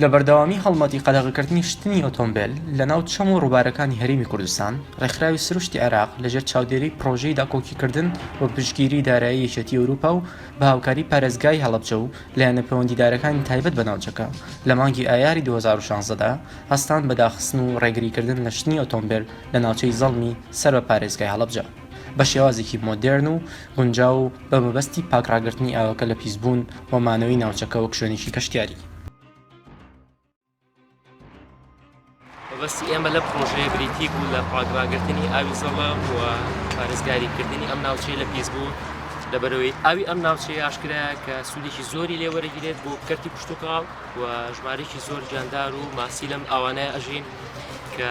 لە بەردەوامی هەڵمەتی قەدەغەکردنی شتنی ئۆتۆمبێل لە ناو چەم و ڕووبارەکانی هەرێمی کوردستان، ڕێکخراوی سروشتی عێراق لەژێر چاودێریی پڕۆژەی داکۆکیکردن بە پشتگیریی دارایی یەکێتیی ئەوروپا و بە هاوکاریی پارێزگای هەڵەبجە و لایەنە پەیوەندیدارەکانی تایبەت بە ناوچەکە لە مانگی ئایاری دوو هەزار و شازدە دا هەستان بە داخستن و ڕێگریکردن لە شتنی ئۆتۆمبێل لە ناوچەی زەڵمی سەر بە پارێزگای هەڵەبجە. بە شێوازێکی مۆدێرن و گونجاو و بە مەبەستی پاک ڕاگرتنی ئاوەکە لە پیسبوون و مانەوەی ناوچەکە وەک شوێنێکی گەشتیاری. مەبەستی ئێمە لەم پڕۆژەیە بریتی بوو لە پاک ڕاگرتنی ئاوی زەڵە و پارێزگاریکردنی ئەم ناوچەیە لە پیسبوون لەبەرەوەی ئاوی ئەم ناوچەیە ئاشکرایە کە سوودێکی زۆری لێ وەرەگیرێت بۆ کەرتی پشتتوکاڵ و ژمارێکی زۆر جاندار و ماسی لەم ئاوانەیە ئەژین کە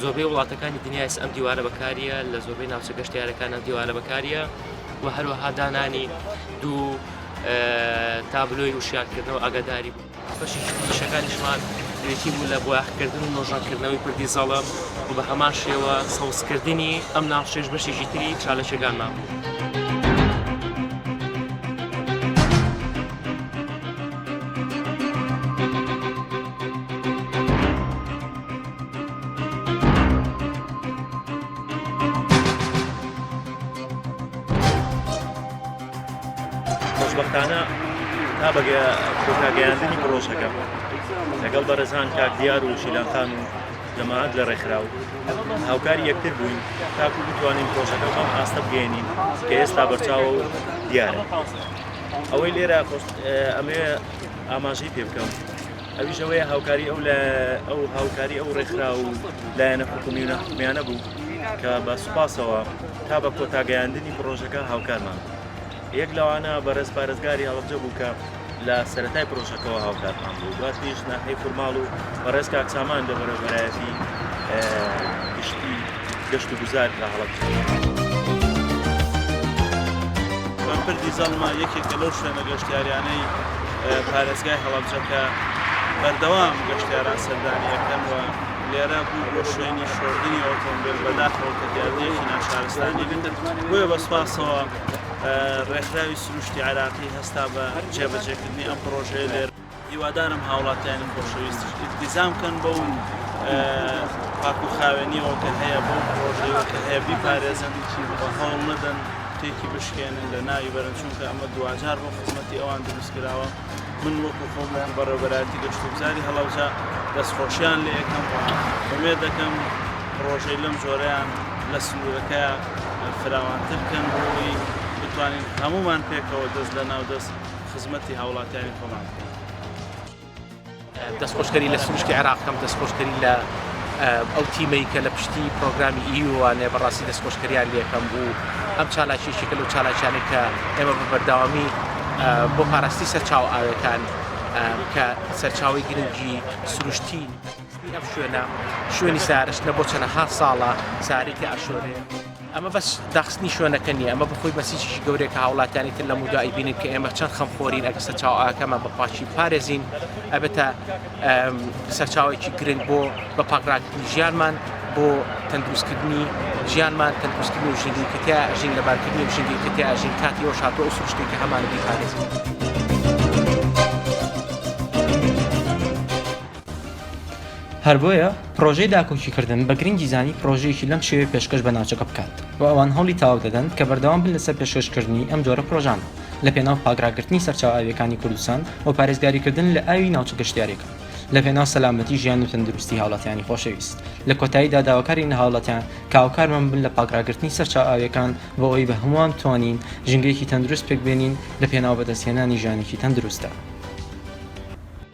زۆربەی وڵاتەکانی دنیاس ئەم دیوارە بەکاریە لە زۆربەی ناوچە گەشتارەکان ئەم دیوارە بەکاریە و هەروەها دانانی دوو تابلۆی وشیارکردنەوە ئەگەداری بوو بەشی شەکانیشمان بریتی بوو لە بۆیاخکردن و نۆژەنکردنەوەی پردی زەڵم و بە هەمان شێوە سەوزکردنی ئەم ناوشێش بەشێکی تری چالەکەگانمان بوو. خۆشبەختانە تا بەگە کۆتاگەیاندنی پرۆژەکە لەگەڵ بەرەزان کاک دیار و شیلانخان و جەماعات لە ڕێکخراو هاوکاری یەکتر بووین تاکو بتوانین پرۆژەکە بەم ئاستە بگەێنین کە ئێستا بەرچاو و دیارە ئەوەی لێرە ئەمێ ئاماژەی پێ بکەم ئەویش ئەوەیە هاوکاری ئەو لە ئەو هاوکاری ئەو ڕێکخرا و لایەنە حکومی و ناحکمیانە بوو کە بە سوپاسەوە تا بە کۆتاگەیاندنی پرۆژەکە هاوکارمان یەک لەوانە بەڕێز پارێزگاری هەڵبجە بوو کە لە سەتای پرۆژەکەەوە هاوکارمان بوو دواتریش ناحەی فورماڵ و بەڕێز کاکسامان لە بەرەبەرایەتی گشتی گەشت و گوزار لە هەڵەبجە. پردی زەڵمە یەکێکە لەو شوێنە گەشتیاریانەی پارێزگای هەڵەبجە کە بەردەوام گەشتیاران سەردانی ئەکەن و لێرە بوو بۆ شوێنی شۆردنی ئۆتۆمبێل بەداخەوە کە دیاردەیەکی ناشارستانی بێت بۆیە بە سوپاسەوە ڕێکخراوی سروشتی عێراقی هەستا بە جێبەجێکردنی ئەم پڕۆژەیە لێرە. هیوادارم هاوڵاتیانی خۆشەویستیش ئیلتیزام بکەن بەو پاکوخاوێنیەوە کە هەیە بەو پڕۆژەیەوە کە هەیە بیپارێزن و هەوڵ نەدەن تێکی بشکێنن لە ناوی بەرن چونکە ئەمە دواجار بۆ خزمەتی ئەوان دروست کراوە من وەکو خۆم وەکو بەڕێوبەرایەتی گەشتوگوزاری هەڵەبجە دەستخۆشیان لێ یەکەم و ئومێد دەکەم پڕۆژەی لەم جۆرەیان لە سنوورەکەیان فراوانتر بکەن بۆ ئەوەی بتوانین هەموومان پێکەوە دەست لە ناو دەست خزمەتی هاوڵاتیانی خۆمان بکەین. دەستخۆشکەری لە سروشتی عێراق بکەم، دەستخۆشکەری لە ئەو تیمەی کە لە پشتی پرۆگرامی ئیوانێ بەڕاستی دەستخۆشکەریان لێکەم بوو ئەم چالاکیشێکە لەو چالاکیانەی کە ئێمە بە بەردەوامی بۆ پاراستی سەرچاو ئاوێکان کە سەرچاوی گرنگی سروشتی ئەم شوێنە شوێنی سارشتە بۆ چەنەها ساڵە سارێکی ئاشۆرێ. ئەمە بەس داخستنی شوێنەکە نیە، ئەمە بەخۆی بەسیجێکی گەورەیە کە هاوڵاتیانی تر لەمودا ئەیبینن کە ئێمە چەند خەمخۆرین، ئەگەر سەرچاوە ئاوەکەمان بە پاکی بپارێزین ئەبێتە سەرچاوەیەکی گرنگ بۆ بە پاکراکردنی ژیانمان، بۆ تەندروستکردنی ژیانمان، تەندروستکردنی ئەو ژینگەی کە تیا ئەژین، لەبارکردنی ئەو ژینگەی کە تیا ئەژین، کاتی ئەوەش هاتووە ئەو سروشتەی کە هەمانە بیپارێزین. هەر بۆیە پڕۆژەی داکۆکیکردن بە گرنگی زانی پڕۆژەیەکی لەم شێوەیە پێشکەش بە ناوچەکە بکات و ئەوان هەوڵی تاوەک دەدەن کە بەردەوام بن لەسەر پێشکەشکردنی ئەم جۆرە پڕۆژانە لە پێناو پاکڕاگرتنی سەرچاوە ئاوییەکانی کوردستان و پارێزگاریکردن لە ئاوی ناوچە گەشتیارەکان لە پێناو سەلامەتی ژیان و تەندروستی هاوڵاتیانی خۆشەویست لە کۆتاییدا داواکارین لە هاوڵاتیان کە هاوکارمان بن لە پاکڕاگرتنی سەرچاوە ئاوییەکان بۆ ئەوەی بە هەمووان بتوانین ژینگەیەکی تەندروست پێکبێنین لە پێناو بەدەستهێنانی ژیانێکی تەندروستدا.